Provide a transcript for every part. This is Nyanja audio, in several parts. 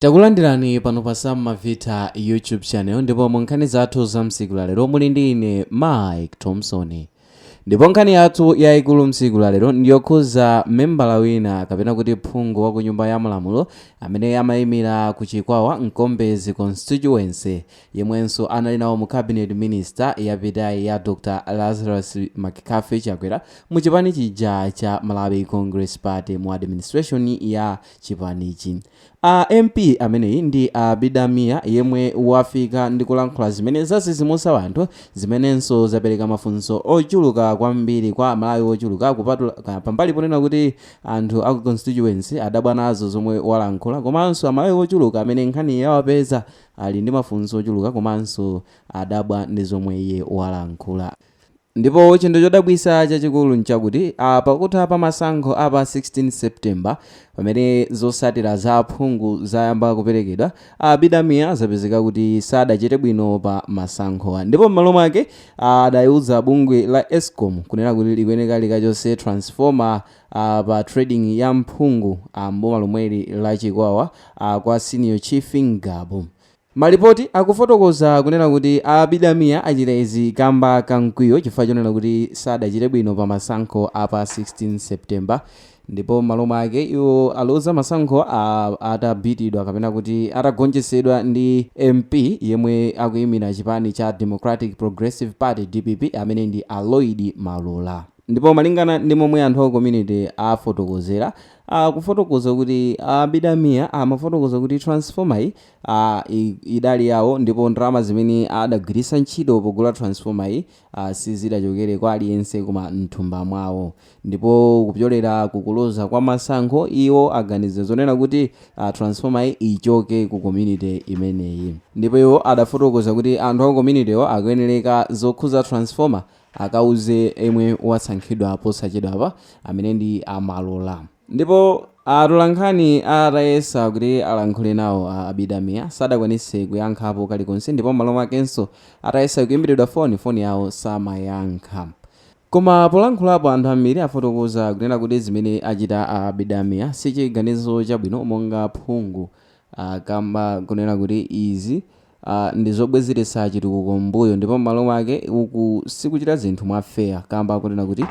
Takulandirani pano pa Sam Mavita YouTube channel ndipo mu nkhani zathu za msiku la lero muli ndi ine Mike Thompson. Ndipo nkhani yathu yayikulu msiku la lero ndiyokhuza membala wina kapena kuti phungu wa ku nyumba ya malamulo amene amayimira ku Chikwawa Nkombezi constituency yemwenso anali nawo mu cabinet minister yapitayi ya Dr. Lazarus McCarthy Chakwera mu chipani chija cha Malawi Congress Party mu administration ya chipanichi. MP ameneyi ndi a Abida Mia yemwe wafika ndi kulankhula zimene zadzidzimutsa wanthu zimenenso zapereka mafunso ochuluka kwambiri kwa amalawi ochuluka kupatula pambali ponena kuti anthu aku constituency adabwa nazo zomwe walankhula komanso amalawi ochuluka amene nkhaniyi yawapeza ali ndi mafunso ochuluka komanso adabwa ndi zomwe iye walankhula. Ndipo chinthu chodabwitsa chachikulu nchakuti pakutha pa masankho a pa 16 September pamene zotsatira za aphungu zayamba kuperekedwa, a Abida Mia zapezeka kuti sadachite bwino pa masankhowa ndipo m'malo mwake adaiuza bungwe la Escom kunena kuti likuyeneka likachotse transformer pa trading ya mphungu m'boma lomweli la Chikwawa kwa Senior Chief Ngabu. Malipoti akufotokoza kunena kuti a Abida Mia achita izi kamba ka mkwiyo chifukwa chonena kuti sadachite bwino pa masankho a pa 16 September ndipo m'malo mwake iwo aluza masankho atabitidwa kapena kuti atagonjetsedwa ndi MP yemwe akuyimira chipani cha Democratic Progressive Party, dpp, amene ndi a Lloyd Malola. Ndipo malingana ndi momwe anthu a community afotokozera, akufotokoza kuti a Abida Mia amafotokoza kuti transformer yi ah, i- idali yawo ndipo ndalama zimene adagwiritsa ntchito pogula transformer yi ah, sizidachokere kwa aliyense koma mthumba mwawo ndipo kupyolera kukuluza kwa masankho iwo aganiza zonena kuti ah, transformer yi ichoke ku community imeneyi ndipo iwo adafotokoza kuti anthu aku communitywo akuyenereka zokhuza transformer akauze yemwe wasankhidwa posachedwapa amene ndi a Malola. Ndipo atolankhani atayesa kuti alankhule nawo a Abida Mia sadakwanitse kuyankhapo kalikonse ndipo m'malo mwakenso atayesa kuimbiridwa foni, foni yawo samayankha. Koma polankhulapo anthu ambiri afotokoza kunena kuti zimene achita a Abida Mia sichiganizo chabwino monga phungu a kamba kunena kuti izi a ndi zobwezeretsa chitukuko m'mbuyo ndipo m'malo mwake uku sikuchita zinthu mwa fair kamba kunena kuti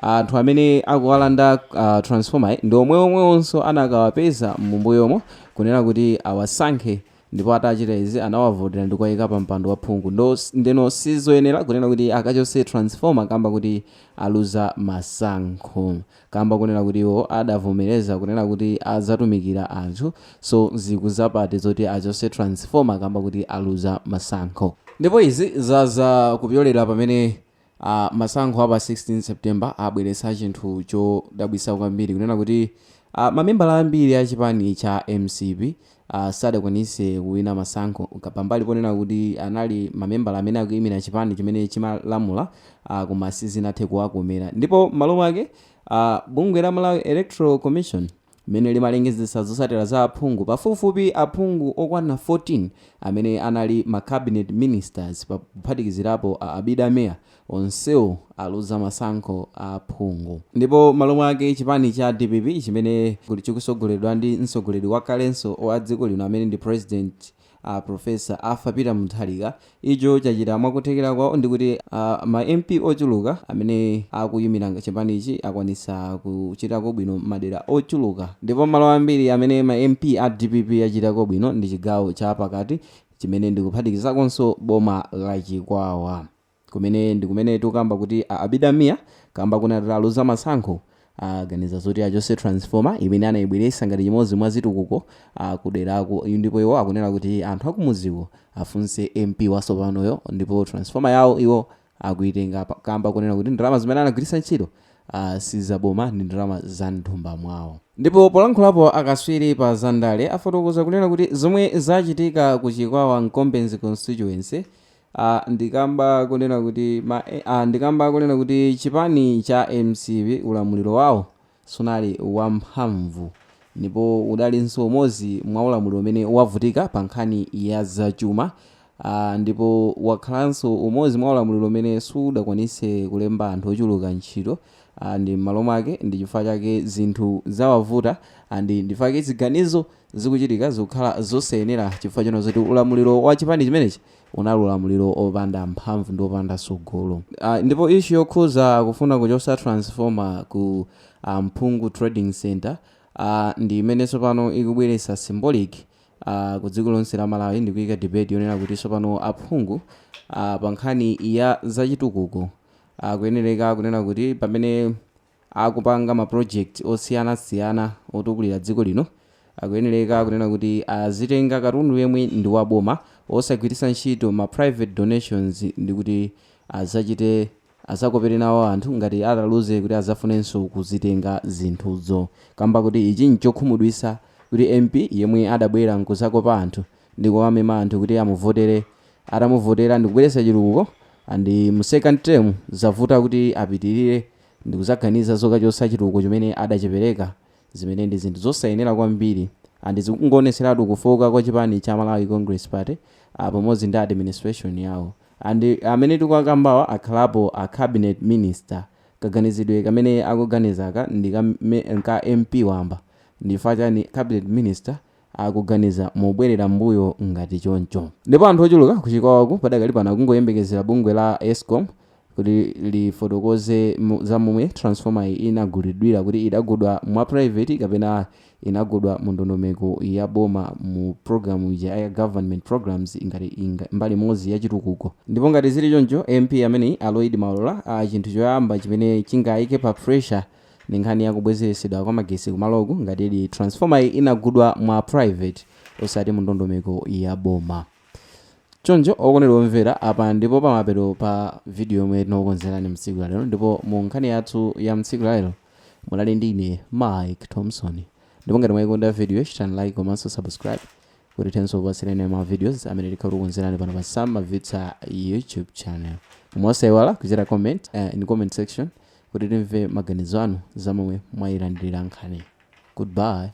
anthu amene akuwalanda a transformer-yi ndi omwe omwewonso anakawapeza m'mbuyomo kunena kuti awasankhe ndipo atachita izi anawavotera ndi kuwayika pa mpando wa phungu ndeno sizoyenera kunena kuti akachotse transformer kamba kuti aluza masankho. kamba kunena kuti iwo adavomereza kunena kuti azatumikira anthu so zikuzapate zoti achotse transformer kamba kuti aluza masankho. Ndipo izi zaza kupyolera pamene masankho a pa 16 September abweretsa chinthu chodabwitsa kwambiri kunena kuti mamembala ambiri a chipani cha mcp a sadakwanise kuwina masankho, pambali ponena kuti anali mamembala amene akuimira chipani chimene chimalamula, koma sizinathe kuwakomera ndipo m'malo mwake, a bungwe la Malawi Electoral Commission limene limalengezetsa zotsatira za aphungu, pafupifupi aphungu okwana 14 amene anali ma cabinet ministers, pakuphatikizirapo a Abida Mia, Onsewo aluza masankho a aphungu ndipo m'malo mwake chipani cha dpp chimene chikutsogoledwa ndi mtsogoleri wakalenso wa dziko lino amene ndi president a Prof Arthur Peter Mutharika icho chachita mwakuthekera kwawo ndikuti ma MP ochuluka amene akuyimira chipanichi akwanitsa kuchitako bwino madera ochuluka ndipo malo ambiri amene ma MP a dpp achitako bwino ndi chigawo cha pakati chimene ndikuphatikizakonso boma la Chikwawa. kumene ndikumene tukamba kuti a Abida Mia kamba konena kuti aluza masankho aganiza zoti achotse transformer imene anayibweresa ngati chimodzi mwa zitukuko kuderako ndipo iwo akunena kuti anthu akumudziko afunse MP wasopanoyo ndipo transformer yawo iwo akuitenga kamba kunena kuti ndalama zimene anagwiritsa ntchito ah, si zaboma ndi ndalama za mthumba mwawo ndipo polankhulapo akaswiri pa zandale afotokoza kunena kuti zomwe zachitika ku chikwawa Mkombezi constituency a Ndikamba konena kuti ma a Ndikamba konena kuti chipani cha mcp ulamuliro wawo sunali wamphamvu ndipo udalinso umodzi mwa ulamuliro umene wavutika pa nkhani ya zachuma a ndipo wakhalanso umodzi mwa ulamuliro umene sudakwanitse kulemba anthu ochuluka ntchito a ndi m'malo mwake ndi chifukwa chake zinthu zawavuta a ndi ndichifukwa chake ziganizo zikuchitika zikukhala zosayenera chifukwa chonena zoti ulamuliro wa chipani chimenechi Unali ulamuliro opanda mphamvu ndi opanda tsogolo. Ndipo issue yokhuza kufuna kuchosa transformer ku Mphungu trading centre ndi imene tsopano ikubweretsa symbolic ku dziko lonse la Malawi ndi kuika debate yonena kuti tsopano aphungu pa nkhani ya zachitukuko akuyenereka kunena kuti pamene akupanga ma project osiyana siyana otukulira dziko lino akuyenereka kunena kuti azitenga katundu yemwe ndi wa boma osagwiritsa ntchito ma private donations ndi kuti azachite azakopere nawo anthu ngati ataluze kuti azafunenso kuzitenga zinthuzo kamba koti ichi nchokhumudwitsa kuti mp yemwe adabwera nkuzakopa anthu ndi kuwamema anthu kuti amuvotere atamuvotera ndikubweretsa chitukuko and mu second term zavuta kuti apitirire ndi kudzaganiza zokachotsa chitukuko chimene adachipereka zimene ndi zinthu zosayenera kwambiri and zikungoonetseratu kufooka kwa chipani cha Malawi Congress Party pamodzi ndi administration yawo and amene tikuwakambawa akhalapo a cabinet minister kaganizidwe kamene akuganizaka ndi ka MP wamba ndi chifukwa chani cabinet minister akuganiza mobwerera m'mbuyo ngati choncho. Ndipo anthu ochuluka ku Chikwawaku padakali pano akungoyembekezera bungwe la Escom kuti lifotokoze za momwe transformeryi inagulidwira kuti idagulidwa mwa private kapena inagulidwa mu ndondomeko ya boma mu program ija ya government programs ngati mbali imodzi ya chitukuko. Ndipo ngati zili choncho MP ameneyi a Lloyd Malola chinthu choyamba chimene chingaike pa pressure Ndi nkhani ya kubwezeresedwa kwa magetsi kumaloku ngatidi transformeryi inagulidwa mwa private osati mu ndondomeko ya boma. Choncho okondedwa omvera apa ndipo pamapeto pa video yomwe tinakukonzerani mtsiku la lero ndipo mu nkhani yathu ya mtsiku la lero munali ndi ine Mike Thomson ndipo ngati mwayikonda videoyi chitani like komanso subscribe kuti tithenso kupatsirani ma videos amene tikhala tikukukonzerani pano pa Sam Mavitsa YouTube channel. Koma osayiwala kuchita comment uh, in comment section kuti timve maganizo anu za momwe mwayilandirira nkhaniyi. Goodbye.